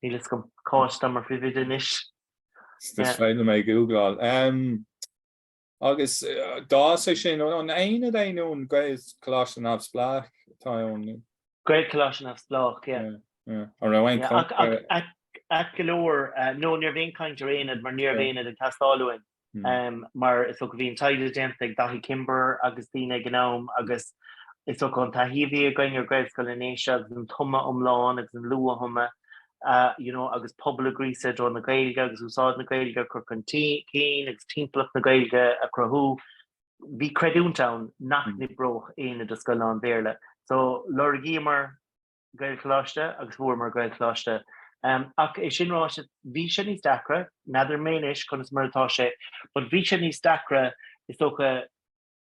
Níl fhios agam Cáit atá mar phríomhoide anois. Is féidir liom é a gúgláil. Agus d'fhás sé sin ón aonad nó an Gaelcholáiste neamhspleách atá ann? Gaelcholáiste neamhspleách, yeah. Yeah. An raibh aon chaint ar. Ait go leor, no, ní raibh aon chaint ar aonad mar ní raibh aonad ag teastáil uainn. mar is dócha bhí an taighde déanta ag Daithí Kimber agus daoine ag an am agus is dócha an taithí a bhí againn ar Gaelscoil na nDéise agus an tumadh iomlán agus an luath-thumadh you know agus pobal a ghríosadh i dtreo na Gaeilge agus úsáid na Gaeilge a chur chun cinn agus timpeallacht na Gaeilge a chruthú, bhí creidiúint ann nach n-oibreodh aonad i scoil lán-Bhéarla. So lorgaíomar Gaelcholáiste agus fuaireamar Gaelcholáiste. Ach é sin ráite, bhí sé níos deacra, n'fheadar mé anois conas mar atá sé, but bhí sé níos deacra is dócha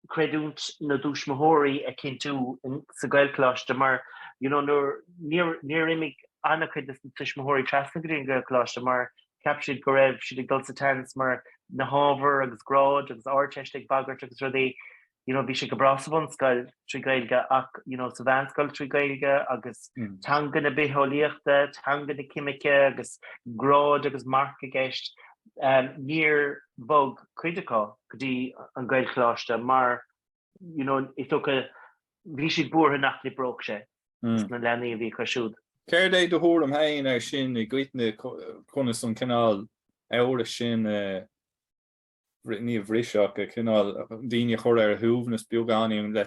creidiúint na dtuismitheoirí a chinntiú sa Ghaelcholáiste mar you know nuair, níor, níor imigh an-chuid des na tuismitheoirí trasna go dtí an Gaelcholáiste mar cheap siad go raibh siad ag dul sa tseans mar na hábhair agus gráid agus Ardteist ag bagairt agus rudaí. you know, bhí sé go breá sa bhunscoil trí Ghaeilge ach, you know, sa mheánscoil trí Gaeilge agus teanga na bitheolaíochta, teanga na ceimice agus gráid agus marc i gceist, níor bhog cuid acu go dtí an Gaelcholáiste mar, you know, is dócha bhí siad buartha nach n-oibreodh sé dos na leanaí a bhí acu siúd. Céard é do thuairim féin air sin i gcoitinne conas an cineál amhrais sin a. Ní a bhriseadh le cineál daoine a chur ar a suaimhneas beagáinín nó le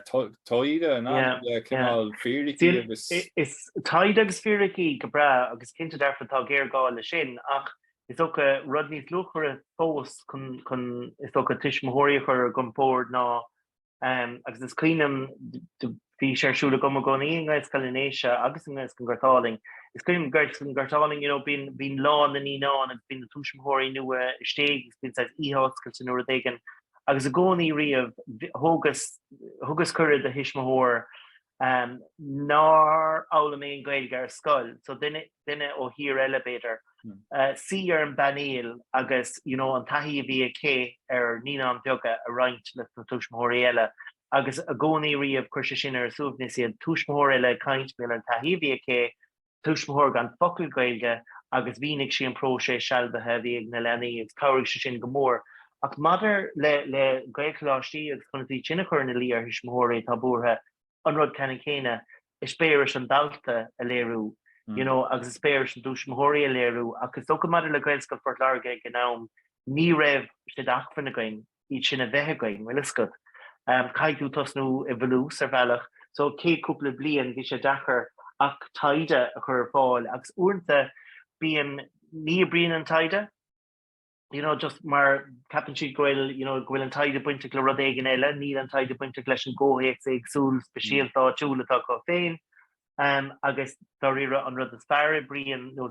taighde nó le cineál fíricí agus. Is taighde agus fíricí go breá agus cinnte dearfa atá géarghá le sin ach is dócha rud níos luachmhaire fós chun, is dócha, tuismitheoirí a chur ar a gcompord ná agus is cuimhin liom, bhí sé ar siúl agam i gcónaí i nGaelscoil Uí Éigeartaigh agus i nGaelscoil an Ghort Álainn, is cuimhin liom i nGaelscoil an Ghort Álainn, you know, bíonn lá na naíonáin agus bíonn na tuismitheoirí nua istigh agus bíonn saghas oíche oscailte nó rud éigin, agus i gcónaí riamh, thugas cuireadh do thuismitheoir nár fhoghlaim aon Ghaeilge ar scoil, so duine ó thír eile, b'fhéidir, suí ar an bpainéal agus you know an taithí a bhí aici ar naíonáin bheaga a roinnt leis na tuismitheoirí eile agus i gcónaí riamh chuir sé sin ar a suaimhneas iad, tuismitheoir eile ag caint, b'fhéidir an taithí a bhí aici, tuismitheoir gan focal Gaeilge agus mhínigh sí an próiseas sealbhaithe a bhí ag na leanaí agus chabhraigh sé sin go mór. Ach maidir le Gaelcholáistí agus conas iad sin a chur ina luí ar thuismitheoirí atá buartha, an rud ceannann céanna, eispéiris an dalta a léiriú you know agus eispéiris na dtuismitheoirí a léiriú. Ach is dócha maidir le Gaelcholáiste Phort Láirge ag an am, ní raibh sé d'acmhainn againn. iad sin a bheith againn, bhuel, fhios agat, caithfidh tú tosnú i bhfolús, ar bhealach. So, an chéad chúpla bliain, bhí sé deacair ach taighde a chur ar fáil agus uaireanta bíonn, ní oibríonn an taighde, you know, just mar ceapann siad go bhfuil, you know, go bhfuil an taighde bainteach le rud éigin eile, níl an taighde bainteach leis an gcomhthéacs éagsúil speisialta mm. áitiúil atá acu féin. Um, agus dáiríre an rud is fearr a oibríonn ná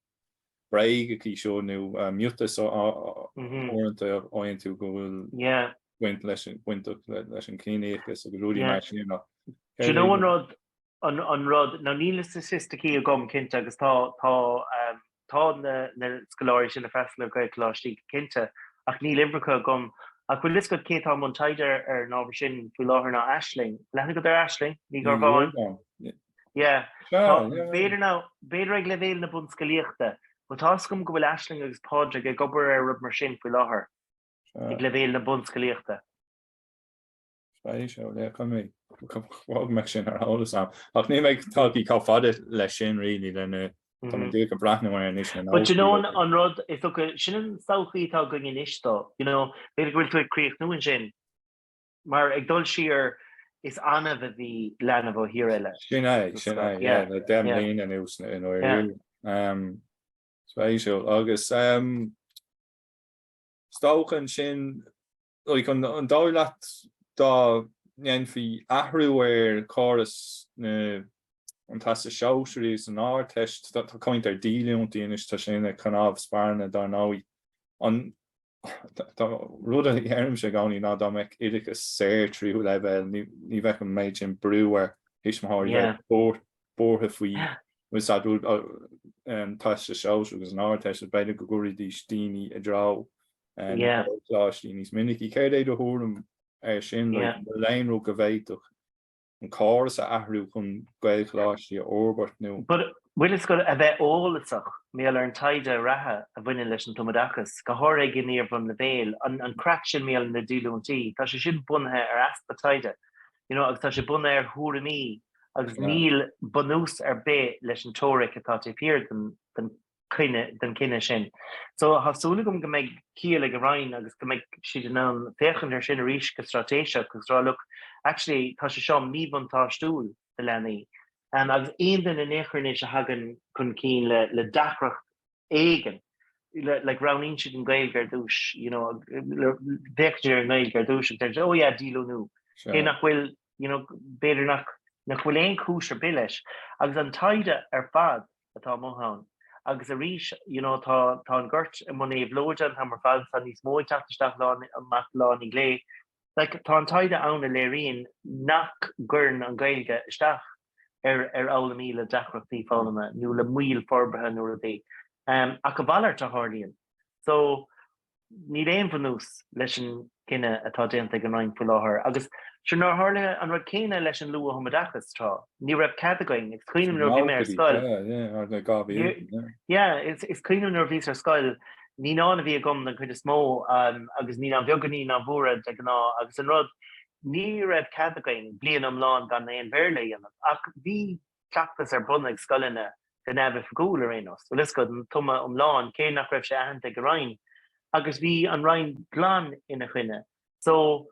bréige í seo nó miotas uaireanta a fhaigheann tú go bhfuil baint leis an gciníochas agus rudaí mar sin ach céard é an rud? an rud ná níl na staitisticí agam cinnte agus tá tá tá na na scoláirí sin ag freastal ar Ghaelcholáistí cinnte ach níl uimhreacha agam ach bhfuil fhios agat cé tá i mbun taighde ar an ábhar sin faoi láthair ná Aisling? An bhfuil aithne agat ar Aisling Ní Dhiorbháin? B'fhéidir ag leibhéal na bunscolaíochta. Bhuel, tá's agam go bhfuil Aisling agus Pádraig ag obair ar rud mar sin faoi láthair, ag leibhéal na bunscolaíochta. Beidh sé, le go mbeidh. Tá an méid sin ar eolas agam. Ach níl mé tagtha chomh fada leis sin really, lena, tá mé díreach ag breathnú ar anois lena But do you know an rud is dócha, sin an tsochaí atá againn anois dó, you know, b'fhéidir go bhfuil tú ag críochnú ansin. Mar ag dul siar, is annamh a bhí leanbh ó thír eile. Sin é, sin é, yeah, yeah, le deich mbliain anuas in Éirinn. Yeah. Spéisiúil. Agus is dócha ansin, like, an an dóigh leat dá ndéanfaí athrú ar chóras na an Teastais Shóisearaí agus an Ardteist, tá caint ar dhíolúintí anois, tá sé ina cnámh spairne dár ndóigh, an An rud a deirimse i gcónaí ná dá mbeadh oideachas saor tríú leibhéil ní bheadh an méid sin brú ar thuismitheoirí a bheith buartha faoi uh tá a fhios agat Teastas Sóisearach agus an Ardteist is b'fhéidir go gcuirfidís daoine i dtreo Gaelcholáistí níos minicí. Céard é do thuairim air sin? Bhfuil aon rud go bhféadfadh an córas a athrú chun Gaelcholáistí a fhorbairt nó. Bhuel, is gá a bheith eolasach, I mean ar an taighde reatha a bhaineann leis an tumoideachas, go háirithe ag an iar-bhunleibhéal, an craic sin I mean na díolúintí, tá sé sin bunaithe ar easpa taighde, you know agus tá sé bunaithe ar thuairimí agus níl bunús ar bith leis an teoiric atá taobh thiar den den chinneadh sin. So tá súil agam go mbeidh ciall ag an Roinn agus go mbeidh siad in ann féachaint air sin arís go straitéiseach agus rá look, actually tá sé seo míbhuntáistiúil do leanaí. Agus aon duine in aon chor anois a thagann chun cinn le le deacracht éigin, like roghnaíonn siad an Ghaeilge ar dtús, you know féachann siad ar an nGaeilge ar dtús agus deir siad oh yeah díolúine, cé nach bhfuil you know b'fhéidir nach nach bhfuil aon chúis ar bith leis. Agus an taighde ar fad, atá amuigh ann. Agus arís, you know, tá, tá an gort i mbun éabhlóide, an t-am ar fad is tá níos mó ag teacht isteach amach lá i ndiaidh lae. Like, tá an taighde ann a léiríonn nach gcuireann an Ghaeilge isteach ar, ar fhoghlaimí le deacrachtaí foghlama nó le moill forbartha nó rud ar bith. Um, ach a mhalairt, a tharlaíonn. So, Níl aon bhunús leis an gcinneadh atá déanta ag an Roinn faoi láthair agus sure nár tharla an rud céanna leis an luath-thumoideachas tráth. Ní raibh cead againn, is cuimhin liom nuair a bhí mé ar scoil. Yeah, is cuimhin liom nuair a bhíos ar scoil, naíonáin a bhí agam den chuid is mó agus naíonáin bheaga, naíonáin mhóra de ghnáth agus an rud, ní raibh cead againn bliain iomlán gan aon Bhéarla a dhéanamh ach bhí cleachtas ar bun ag scoileanna go neamhoifigiúil ar aon nós, bhfuil 'fhios agat, an tumadh iomlán, cé nach raibh sé aitheanta ag an Roinn, agus bhí an Roinn glan ina choinne. So,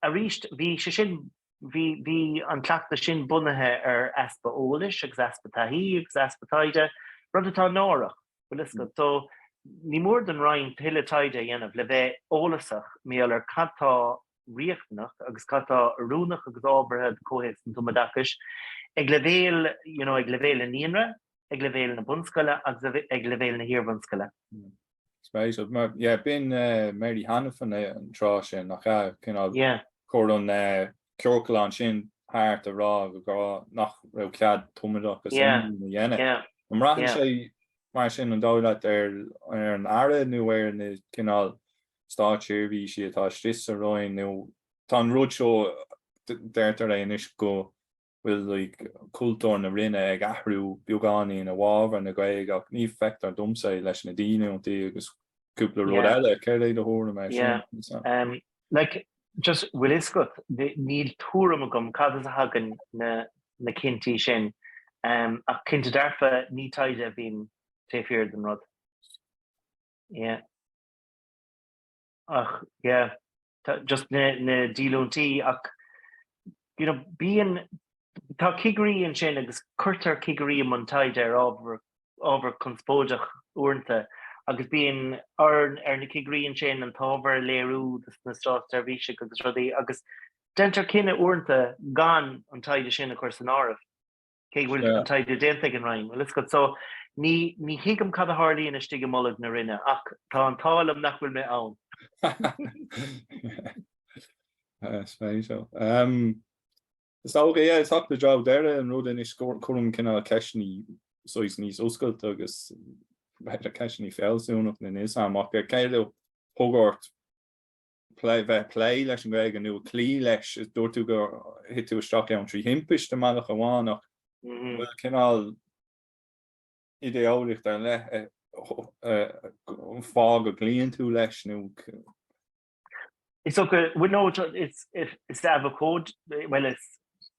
arís, bhí sé sin, bhí, bhí an cleachtas sin bunaithe ar easpa eolais agus easpa taithí agus easpa taighde, rud atá náireach, bhfuil 'fhios agat. So, ní mór don Roinn tuilleadh taighde a dhéanamh le bheith eolasach, I mean ar cad tá riachtanach agus cad atá oiriúnach agus ábhartha do chomhthéacs an tumoideachais ag leibhéal, you know, ag leibhéal an naíonra, ag leibhéal na bunscoile agus ag leibhéal na hiarbhunscoile. Spéisiúil, yeah, b'in Mary Hanafin an tráth sin, nach ea? Cineál, a chuir an ciorclán sin thart a rá go go nach raibh cead tumoideachas iomlán a dhéanamh. An mbraitheann sé mar sin an dóigh leat ar an Aire nó ar na cineál státseirbhísí atá istigh sa Roinn nó tá an rud seo, deirtear é anois go bhfuil like cultúr na Roinne ag athrú beagáinín i bhfabhar na Gaeilge, ach ní feictear domsa é leis na díolúintí agus cúpla rud eile. Céard é do thuairim air sin, Lisa? Yeah, like just bhfuil fhios agat, níl tuairim agam cad as a thagann na cinntí sin ach cinnte dearfa ní taighde a bhíonn taobh thiar den rud. Yeah. Ach yeah, just na díolúintí ach you know bíonn, tá cigirí ansin agus cuirtear cigirí i mbun taighde ar ábhar, ábhar conspóideach uaireanta agus bíonn ar na cigirí ansin an t-ábhar a léiriú dos na státseirbhísigh agus rudaí agus deintear cinneadh uaireanta gan an taighde sin a chur san áireamh. cé go bhfuil an taighde déanta ag an Roinn, bhfuil a fhios agat. So ní, ní thuigim cad a tharlaíonn istigh i mbolg na Roinne ach tá an t-ádh liom nach bhfuil mé ann. Spéisiúil, so. Is dócha, yeah, ag teacht i dtreo deireadh an rud anois, cuirim cineál ceisteanna saghas níos oscailte agus b'fhéidir ceisteanna fealsúnachta as seo amach ar cé le hagóirt? Plé, bheith ag plé leis an nGaeilge nó ag cloí leis. Dúirt tú gur thit tú isteach ann trí thimpiste i mbealach amháin ach an bhfuil cineál idé-eolaíocht ar leith fáth go gcloíonn tú leis nó. Is dócha, bhuel nó, is is ea, bhuel is,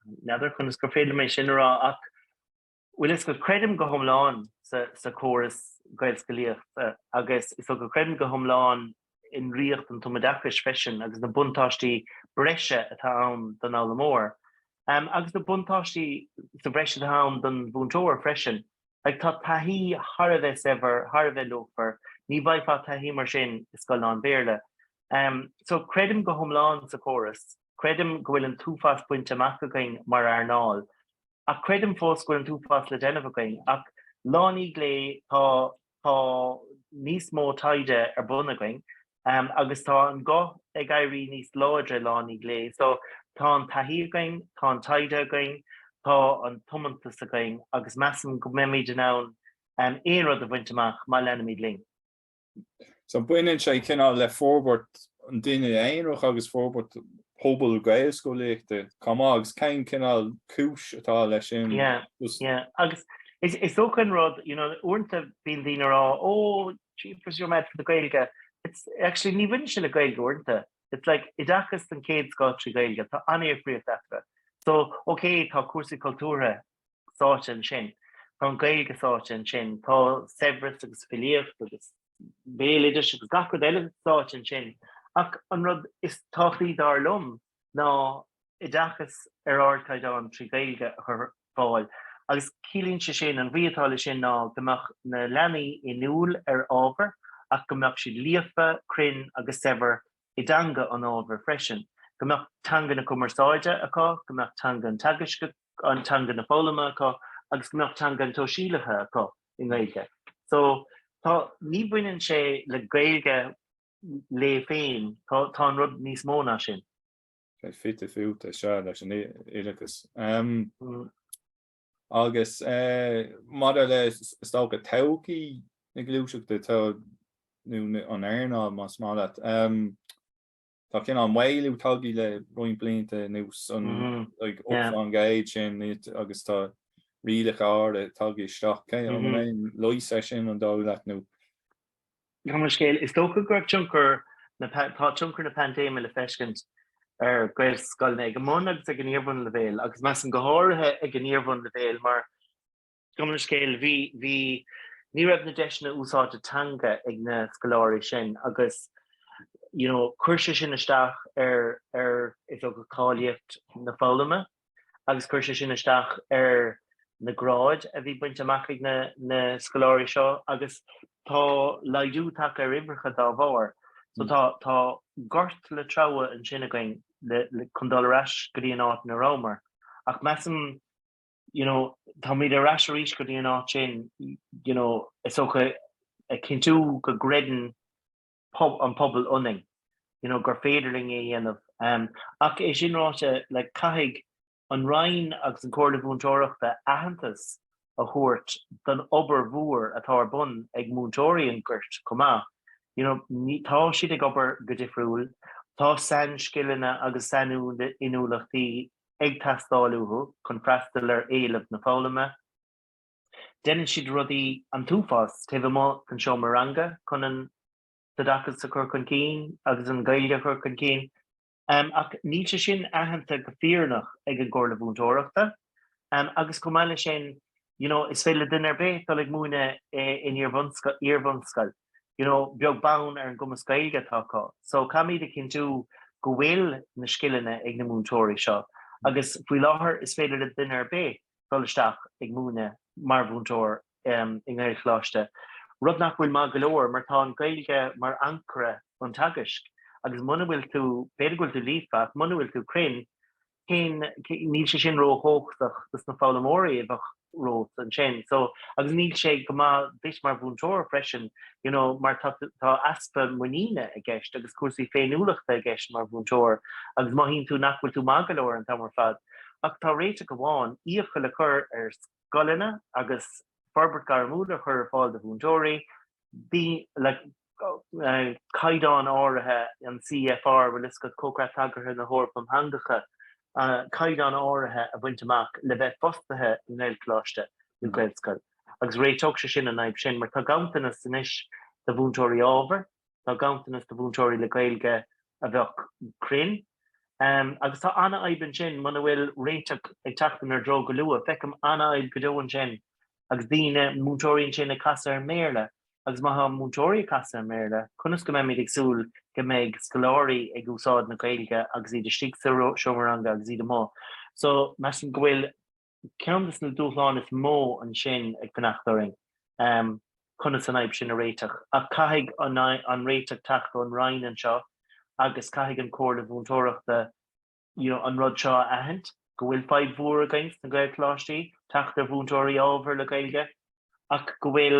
n'fheadar conas gur féidir mé sin a rá ach Bhuel, is go creidim go hiomlán sa chóras Gaelscolaíochta agus is go creidim go hiomlán i ndraíocht an tumoideachais freisin agus na buntáistí breise atá ann don fhoghlaimeoir agus na buntáistí sa bhreis atá ann don mhúinteoir freisin. Like, tá taithí thar a bheith saibhir, thar a bheith luachmhar, ní bhfaighfeá taithí mar sin i scoil lán-Bhéarla. Um, so creidim go hiomlán sa chóras, creidim go bhfuil an t-uafás bainte amach againn mar earnáil, ach creidim fós go bhfuil an t-uafás le déanamh againn. Ach lá i ndiaidh lae tá tá níos mó taighde ar bun againn um agus tá an guth ag éirí níos láidre lá i ndiaidh lae. So tá an taithí againn, tá an taighde againn, tá an tiomantas againn agus measaim go mbeimid in ann um aon rud a bhaint amach má leanaimid linn. So baineann sé cineál le forbairt an duine aonraigh agus forbairt pobal gaelscolaíochta chomh maith agus cén cineál cúis atá leis sin? Yeah, yeah. Agus is dócha an rud, you know, uaireanta bíonn daoine ag rá, oh, jeepers, you're mad for the Gaeilge. It's, actually, ní bhaineann sé le Gaeilge uaireanta. It's like, oideachas den chéad scoth trí Ghaeilge, tá an-difríocht eatarthu. So, okay, tá cúrsaí cultúrtha sáite ansin, tá an Ghaeilge sáite ansin, tá saibhreas agus filíocht agus béaloidis agus gach rud eile sáite ansin. Ach an rud is tábhachtaí dar liom ná oideachas ar ardchaighdeán trí Ghaeilge a chur ar fáil agus ciallaíonn sé sin, an bhrí atá leis sin ná go mbeadh na leanaí inniúil ar ábhar ach go mbeadh siad líofa, cruinn agus saibhir i dteanga an ábhair freisin, go mbeadh teanga na cumarsáide acu, go mbeadh teanga an teagaisc, teanga na foghlama acu agus go mbeadh teanga an tsóisialaithe acu i nGaeilge. So tá, ní bhaineann sé le Gaeilge léi féin, tá tá an rud níos mó ná sin. Fite fuaite, sea, leis an oideachas. Agus maidir le is dócha todhchaí na gluaiseachta nó an earnáil más maith leat, tá cineál maolú tagtha le roinnt blianta anuas mm-hmm. an gaiid sin agus tá rialacha úra tagtha isteach cé an mm-hmm. mé lois é sin an dóigh leat nó Gan an scéal, is dócha go raibh tionchar na, tá tionchar na paindéime le feiscint ar Ghaelscoileanna ag an mbun agus ag an iarbhunleibhéal agus measaim go háirithe ag an iarbhunleibhéal mar, gan an scéal, bhí, bhí, ní raibh na deiseanna úsáide teanga ag na scoláirí sin agus you know chuir sé sin isteach ar, ar, is dócha cáilíocht na foghlama. agus chuir sé sin isteach ar na gráid a bhí bainte amach ag na scoláirí seo agus tá laghdú tagtha ar uimhreacha dá bharr. So tá tá gort le treabhadh ansin againn le chun dul ar ais go dtí an áit ina rabhamar ach measaim you know táimid ar ais arís go dtí an áit sin you know is dócha a chinntiú go gcreideann an pobal ionainn, you know, gur féidir linn é dhéanamh. Um, ach é sin ráite, like, caithfidh an Roinn agus an Comhairle Mhúinteoireachta aitheantas a thabhairt don obair mhór atá ar bun ag múinteoirí an ghoirt chomh maith. You know, ní, tá siad ag obair go difriúil, tá sainscileanna agus sain-inniúlachtaí ag teastáil uathu chun freastal ar éileamh na foghlama, Deineann siad rudaí an t-uafás taobh amuigh den seomra ranga chun an t-oideachas a chur chun cinn agus an Ghaeilge a chur chun cinn ach níl sé sin aitheanta go fírinneach ag an gComhairle Mhúinteoireachta agus chomh maith leis sin you know, is féidir le duine ar bith dul ag múine in iarbhunscoil you know, beag beann ar an gcumas Gaeilge atá acu. So caithfimid a chinntiú go bhfuil na scileanna ag na múinteoirí seo agus faoi láthair is féidir le duine ar bith dul isteach ag múineadh mar mhúinteoir i nGaelcholáiste, rud nach bhfuil maith go leor mar tá an Ghaeilge mar ancaire an teagaisc agus muna bhfuil tú, b'fhéidir go bhfuil tú líofa ach muna bhfuil tú cruinn, cén, níl sé sin ró-thógthaach dos na foghlaimeoirí a bheadh romhat ansin. So, agus níl sé go maith duit mar mhúinteoir freisin, you know, mar tá, tá easpa muiníne i gceist agus cúrsaí féiniúlachta i gceist mar mhúinteoir agus mothaíonn tú nach bhfuil tú maith go leor an t-am ar fad. ach tá réiteach amháin, iachall a chur ar scoileanna agus forbairt ghairmiúil a chur ar fáil do mhúinteoirí, daoine le caighdeán áirithe, an CEFR, bhfuil a fhios agat, Comhchreat Tagartha na hEorpa um Theangacha, caighdeán áirithe a bhaint amach le bheith fostaithe i nGaelcholáiste nó Gaelscoil agus réiteodh sé sin an fhadhb sin mar tá ganntanas anois de mhúinteoirí ábhair, tá ganntanas de mhúinteoirí le Gaeilge a bheadh cruinn. Agus tá an-fhadhb ansin muna bhfuil réiteach ag teacht inár dtreo go luath. Feicim an-fhadhb go deo ansin agus daoine, múinteoirí ansin ag casadh ar an mBéarla. Agus má tá múinteoirí ag casadh ar an mBéarla, conas go mbeimid ag súil go mbeidh scoláirí ag úsáid na Gaeilge agus iad istigh sa seomra ranga agus iad amuigh? So measaim go bhfuil. Ceann des na dúshláin is mó ansin ag fanacht orainn conas an fhadhb sin a réiteach. Ach caithfidh an réiteach teacht ón Roinn anseo agus caithfidh an Chomhairle Mhúinteoireachta an rud seo a aithint, go bhfuil fadhb mhór againn sna Gaelcholáistí teacht ar mhúinteoirí ábhair le Gaeilge ach go bhfuil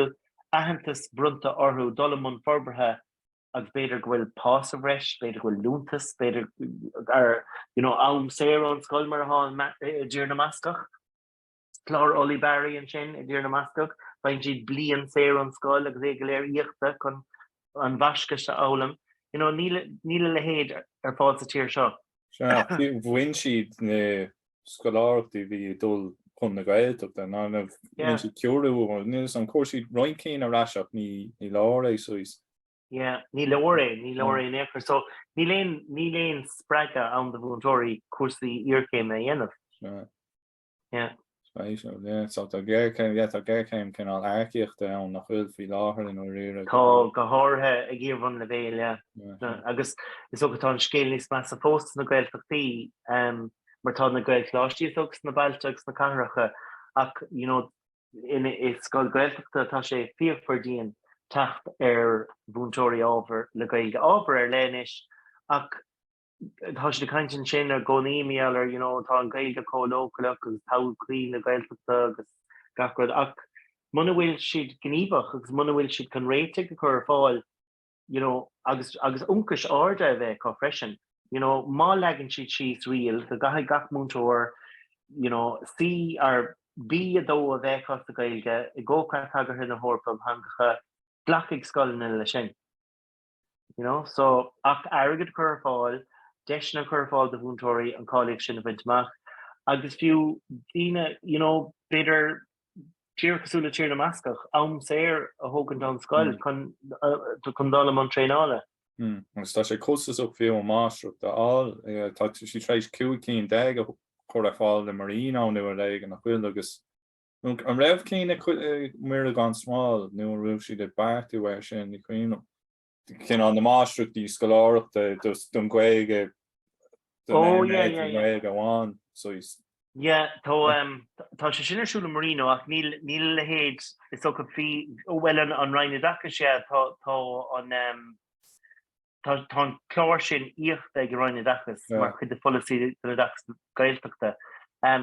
aitheantas bronnta orthu dul i mbun forbartha agus b'fhéidir go bhfuil pá sa bhreis, b'fhéidir go bhfuil liúntas, b'fhéidir ar, you know, am saor ón scoil mar atá an, i dTír na mBascach, clár Ulibarri ansin i dTír na mBascach, faigheann siad bliain saor ón scoil agus é go léir íoctha chun an Bhascais a fhoghlaim. You know, níl, níl a leithéid ar fáil sa tír seo. Bhain siad na scoláireachtaí bhí ag dul chun na Gaeltachta ná bhain siad ceoiriú agus an chuir siad roinnt cinn ar ais ach ní leor é saghas. Sea, ní leor é, ní leor é in aon chor. So níl aon spreagadh ann do mhúinteoirí cúrsaí iarchéime a dhéanamh. Yeah. Spéisiúil, yeah. So tá géarchéim, yeah, tá géarchéim cineál earcaíochta ann nach bhfuil faoi láthair i ndáiríre. Tá, go háirithe ag iar-bhunleibhéal. Agus is dócha tá an scéal níos measa fós sna Gaeltachtaí mar tá na Gaelcholáistí is dóigh sna bailte agus sna cathracha ach, you know, i scoil Gaeltachta tá sé fíochmhar dian teacht ar mhúinteoirí ábhar le Gaeilge, ábhar ar leith anois ach Tá siad ag caint ansin i gcónaí, a Mhichíl, ar, you know, tá an Ghaeilge chomh leochaileach agus todhchaí na Gaeltachta agus gach rud ach muna bhfuil siad gníomhach agus muna bhfuil siad chun réitigh a chur ar fáil, you know, agus agus ionchais arda a bheith acu freisin, you know, má leagann siad síos riail go gcaithfidh gach múinteoir, you know, C or B2 a bheith acu sa Ghaeilge i gcomhchreat tagartha na hEorpa um Theangacha, glacfaidh scoileanna leis sin. You know, so ach airgead cur ar fáil, deiseanna cur ar fáil do mhúinteoirí an cáilíocht sin a bhaint amach agus fiú daoine, you know, b'fhéidir tíortha cosúil le Tír na mBascach, am saor a thógaint ón scoil chun dul i mbun traenála. Agus tá sé costasach fiú an máistreacht a fháil. Tá siad tar éis cúig cinn déag a chur ar fáil le Marino anois leis nach bhfuil agus An raibh cinn ag Muire gan Smál nó an raibh siad ag beartú air sin, ní cuimhin liom. cineál na máistreachtaí scoláireachta don Ghaeilge amháin, saghas. Yeah, tá sé sin ar siúl i Marino ach níl a leithéid, is dócha, bhí, bhuel an Roinn Oideachais, yeah, tá an, Tá an clár sin íoctha ag an Roinn Oideachais mar chuid de pholasaí don oideachas Gaeltachta.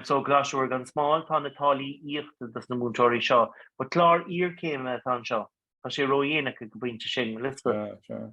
So, Coláiste Mhuire gan Smál, tá na táillí íoctha dos na múinteoirí seo. But clár iarchéime atá anseo. Tá sé ródhéanach ag an bpointe sin, Liosbeth.